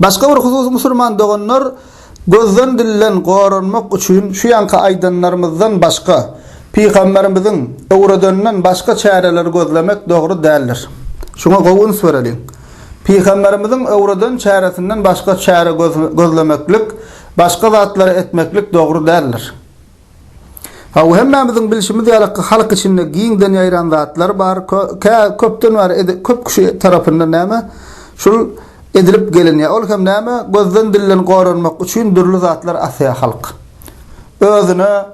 Başga bir husus musurman doganlar gözden dilden goranmak üçin şu ýanky aýdanlarymyzdan başga pygamberimiziň öwredeninden başga çäreleri gözlemek dogry däldir. Şuňa gowy üns bereliň. Pygamberimiziň öwreden çäresinden başga çäre gözlemeklik, başga zatlary etmeklik dogry däldir. Hawa, hemmämiziň bilşimiz ýaly, halk içinde giňden ýaýran zatlar bar. Kä, köpden bäri, köp kişi tarapyndan näme, şul edilip gelinýär. Ol hem näme, gözden-dilden goranmak üçin dürli zatlar asýar halk. Özüne,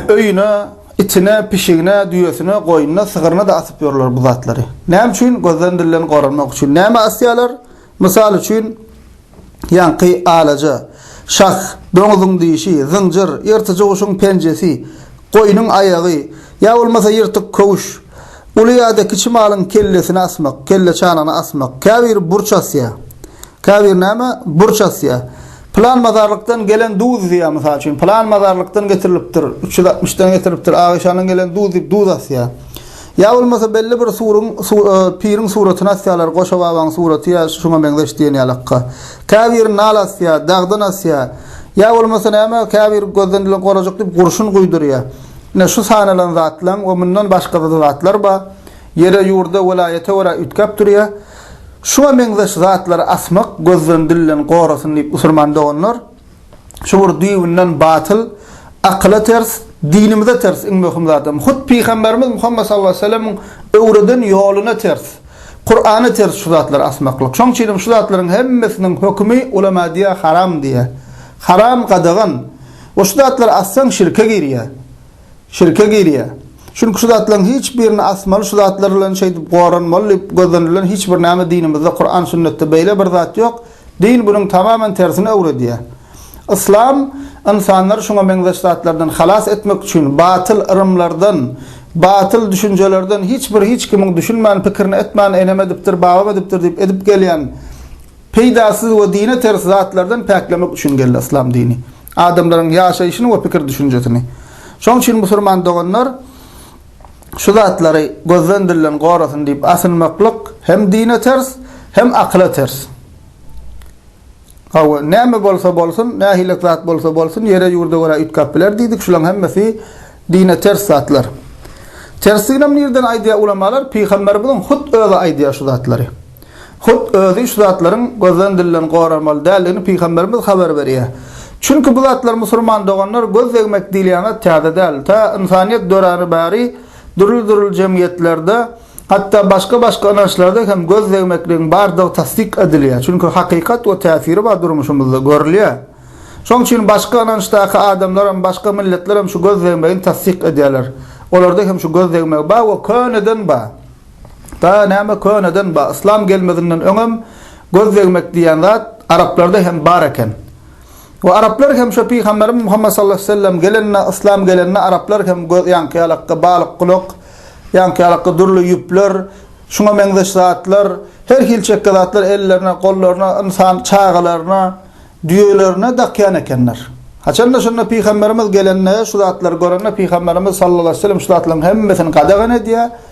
öýüne, itine, pişigine, düýesine, goýnuna, sygyryna-da asyp ýörler bu zatlary. Näme üçin? Gözden-dilden goranmak üçin. Nämä asýarlar? Mysal üçin, ýaňky alaja, şah, doňzuň dişi, zynjyr, ýyrtyjy guşuň penjesi, goýnuň aýagy, ýa bolmasa ýyrtyk köwüş, uly ýa-da kiçi malyň kellesini asmak, kelle çanagyny asmak, käbiri burç asýar. Käbiri näme? Burç asýar. Pylan mazarlykdan gelen duz diýýär, mysal üçin, pylan mazarlykdan getirilipdir, üç ýüz altmyşdan getiripdir, Agyşandan gelen duz diýip duz asýar. Ýa bolmasa belli bir suryň, piriň suratyny asýalar, Goşa babaň suraty ýa şuňa meňzeş diýen ýalakka. Käbiri nal asýa, dagdan asýa. Ýa bolmasa näme, käbiri gözden ilen gorajyk diýip gurşun guýdurýa. Ine, şu sanalan zatlaň we mundan başga-da zatlar bar. Ýere, ýurda, welaýata görä üýtgäp durýa. Şuňa meňzeş zatlary asmak gözden dilden gorasyn diýip usurman doganlar. Şu bir düýbünden batyl, akyla ters, dinimize ters iň möhüm zadam. Hut Pygamberimiz Muhammet sallallahu aleýhi we sellemiň öwreden ýoluna ters, Kurana ters şu zatlary asmaklyk. Şoň üçin hem şu zatlaryň hemmesiniň hökümi ulema diýýär haram diýýär. Haram, gadagan. We şu zatlary assaň şirke girýär. Şirke girýär. Çünki şu zatlaryň hiç birini asmaly şu zatlar bilen şeýdip goranmaly diýip gözlenilen hiç bir näme dinimizde Kuran sünnetde beýle bir zat ýok. Din bunuň tamamen tersini öwredýär. Yslam ynsanlary şuňa meňzeş zatlardan halas etmek üçin batyl yrymlardan, batyl düşünjelerden hiç bir hiç kimiň düşünmän pikirini etmän enem edipdir babam edipdir diýip edip gelýän peýdasyz we dine ters zatlardan päklemek üçin geldi Yslam dini. adamlaryň ýaşaýşyny we pikir-düşünjesini. Şonuň üçin musulman doganlar şu zatlary gözden dilden gorasyn diýip asynmaklyk hem dine ters, hem akyla ters. Hawa, näme bolsa bolsun, nähilek zat bolsa bolsun, ýere-ýurda görä üýtgäp biler diýdik, şularyň hemmesi dine ters zatlar. Tersdiginem nireden aýdýar ulamalar? Pygamberimiziň hut özi aýdýar şu zatlary. Hut özi şu zatlaryň gözden dilden goralmaly däldigini pygamberimiz habar berýär. Çünki bu zatlar musulman doganlar göz degmek diýilýän zat täze däl. Tä ynsanyýet döräni bäri dürli-dürli jemgyýetlerde hatda başga-başga ynançlarda hem göz degmekligiň bardygy tassyk edilýär. Çünki hakykat we täsiri bar durmuşymyzda görülýär. Şoň üçin başga ynançdaky adamlaram başga milletlerem şu göz degmegini tassyk edýärler. Olarda hem şu göz degmegi bar we köneden bar. Ba näme köneden ba yslam gelmezinden öňem göz degmek diýen zat araplarda hem bar eken. We araplar hem şo pygamberimiz Muhammet sallallahu aleyhi ve sellem gelende yslam gelende araplar hem göz ýaňky ýalakda balyk gulak ýaňky ýalakda dürli ýüpler şuňa meňzeş zatlar her hil çekge zatlar ellerine gollaryna ynsan çagalaryna düýelerine dakýan ekenler. Haçanda şonda pygamberimiz gelende şu zatlary görende pygamberimiz sallallahu aleyhi ve sellem şu zatlaryň hemmesini gadagan edýär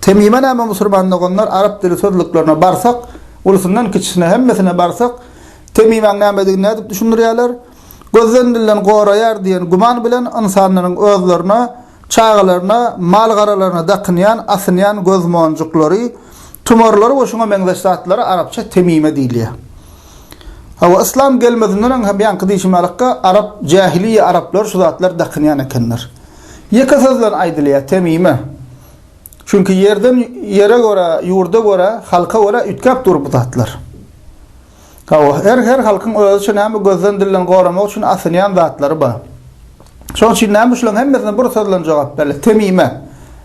Temime näme musurmanlyk onlar arap dili sözlüklerine barsak ulusyndan kiçisine hemmesine barsak temimäň nämedigini nädip düşündirýärler gözden dilden goraýar diýen guman bilen ynsanlaryň özlerine çagalaryna mal garalaryna dakynýan asynýan göz monjuklary tumarlary we şuňa meňzeş zatlara arapça temime diýilýär. Hawa yslam gelmezinden öň hem ýaňky diýşim ýalykka arap jähiliýe araplar şu zatlar dakynýan ekenler. Ýeke sözlen aýdylýar, Temime. Çünki ýerden, ýere görä, ýurda görä, halka görä üýtgäp dur bu zatlar. Hawa, her her halkyň özüçe näme gözden dilden goramak üçin asynýan zatlary bar. Şoň üçin näme şulaň hemmesine bir sözlen jogap berle, Temime.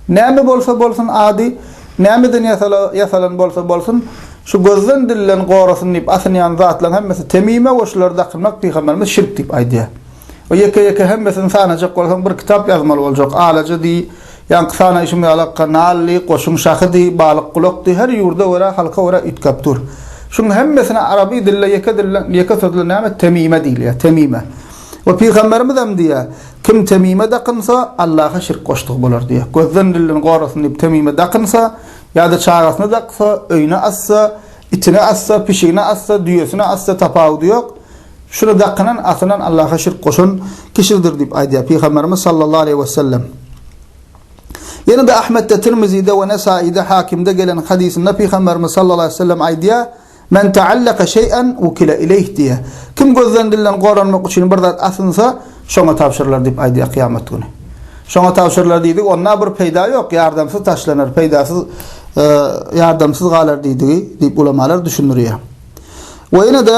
Näme bolsa bolsun ady, nämeden ýasala, ýasalan bolsa bolsun, şu gözden dilden gorasyn diýip asynýan zatlaň hemmesi Temime we şulary dakynmak Pygamberimiz şirk diýip aýdýar. we ýeke-ýeke hemmesini sanajak bolsaň bir kitap ýazmaly boljak, Alaja diý, ýaňky sanaýşym ýaly akga Nally, Goşuň şahy diý, Balyk gulak diý, her ýurda görä, halka görä üýtgäp dur. Şuň hemmesine araby dilde ýeke dilde ýeke sözle näme temime diýilýär, temime. We pygamberimizem diýýär, Kim temime dakynsa, Allaha şirk goşdugy bolar diýýär. Gözden dilden gorasyn diýip temime dakynsa, ýa-da çagasyna daksa, öýüne assa, itine assa, pişigine assa, düýesine assa tapawudy ýok. Şuny dakynan, asylan Allaha şirk goşan kişidir diýip aýdýar Pygamberimiz sallallahu aleýhi wesellem. Ýene-de Ahmetde, Tirmizide we Nesaide, Hakimde gelen hadysynda Pygamberimiz sallallahu aleýhi wesellem aýdýar, Men ta'allaka şeý'en wukile ileýh diýýär. Kim gözden dilden goranmak üçin bir zat asynsa, şoňa tabşyrylar diýip aýdýar kyýamat güni. Şoňa tabşyrylar diýdi, onda bir peýda ýok, ýardamsyz taşlanar, peýdasyz ýardamsyz galar diýdigi diýip ulamalar düşündirýär. We ýene-de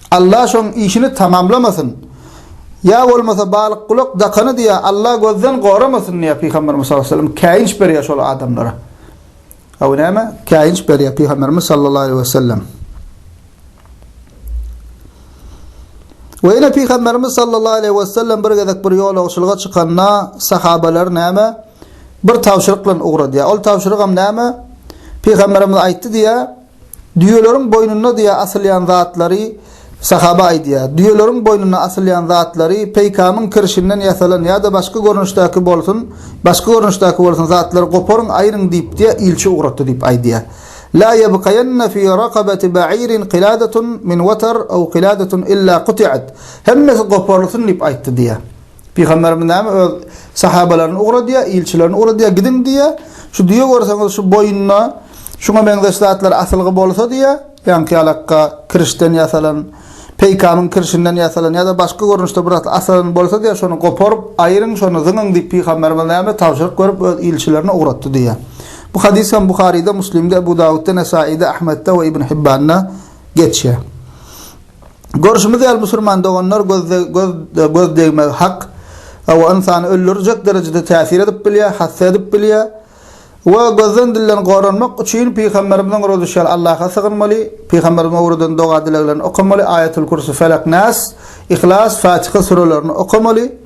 Alla şoň işini tamamlamasyn. Ýa bolmasa balyk gulak dakany diýä Alla gözden goramasyn diýä Pygamberimiz sallallahu aleýhi we sellem käýinç berýä şol adamlara. Aw näme? Käýinç berýä Pygamberimiz sallallahu aleýhi we sellem. We ýene Pygamberimiz sallallahu aleýhi we sellem bir gezek bir ýolagçylyga çykanda sahabalar näme? Bir tabşyryk bilen ugradýa. Ol tabşyrygam näme? Pygamberimiz aýtdy diýä. Düýeleriň boýnunda diýýär asylýan zatlary Sahaba aýdýar. Düýeleriň boýnuna asylýan zatlary peýkamyň kirşinden ýasalan ýa-da başga görnüşdäki bolsun, başga görnüşdäki bolsun zatlary goparyň, aýryň diýip diýýär, ilçi ugratdy diýip aýdýar. La ýebkaýenne fi rakabati ba'irin qiladatun min watar aw qiladatun illa quti'at. Hemmesi goparylsyn diýip aýtdy diýýär. Pygamberimiz näme öz sahabalaryny ugradýar, ilçilerini ugradýar, gidiň diýýär. Şu düýe görseňiz şu boýunda şuňa meňzeş zatlar asylgy bolsa diýýär, ýaňky ýalakga kirişden ýasalan, peýkamyň kirişinden ýasalan ýa-da başga görnüşde bir zat asalan bolsa diýýär, şony goparyp, aýryň, şony zyňyň diýip pygamberimiz näme tabşyryk berip öz ilçilerini ugratdy diýýär. Bu hadys hem Buharyda, Muslimde, Ebu Dawudda, Nesaide, Ahmetde we Ibn Hibbanda geçýär. Görşümiz ýaly, musulman doganlar gözde göz göz degmegi hak we ynsany öldürjek derejede täsir edip bilýär, hassa edip bilýär. We gözden dilden goranmak üçin pygamberimiziň ruzişal Allaha sygynmaly, pygamberimiziň öwreden doga-dileglerini okamaly, Aýatul-Kürsü, Felek, Nas, Yhlas, Fatyha sürelerini okamaly.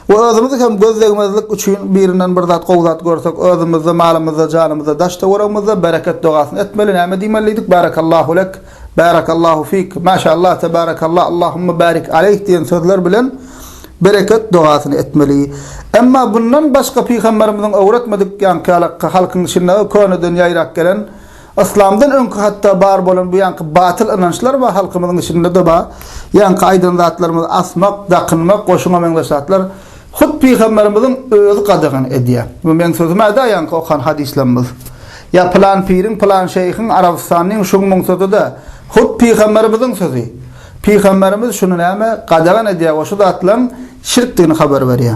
we özümizi hem göz degmezlik üçin birinden bir zat gowy zat görsek özümizde malymyzda janymyzda daş töweregimizde bereket dogasyny etmeli näme diýmelidik Barakallahu lek Barakallahu fik Maşallah Tebarakallah Allahumma barik aleyh diýen sözler bilen bereket dogasyny etmeli emma bundan başga pygamberimiziň öwretmedik ýaňky halkyň içinde köneden ýaýrap gelen Yslamdan öňki hatda bar bolan bu ýanky batyl ynançlar bar halkymyzyň içinde-de bar. Ýanky aýdan zatlarymyz asmak, dakynmak, goşuna meňzeş zatlar hut pygamberimiziň özi gadagan edýär. Bu meň sözüm-ä däl ýanky okan hadyslarymyz. Ýa pylan piriň, pylan şeýhiň, arabystanlyň şuň-muň sözi däl. Hut pygamberimiziň sözi. Pygamberimiz şuny näme? Gadagan edýär we şu zatlaryň şirkdigini habar berýär.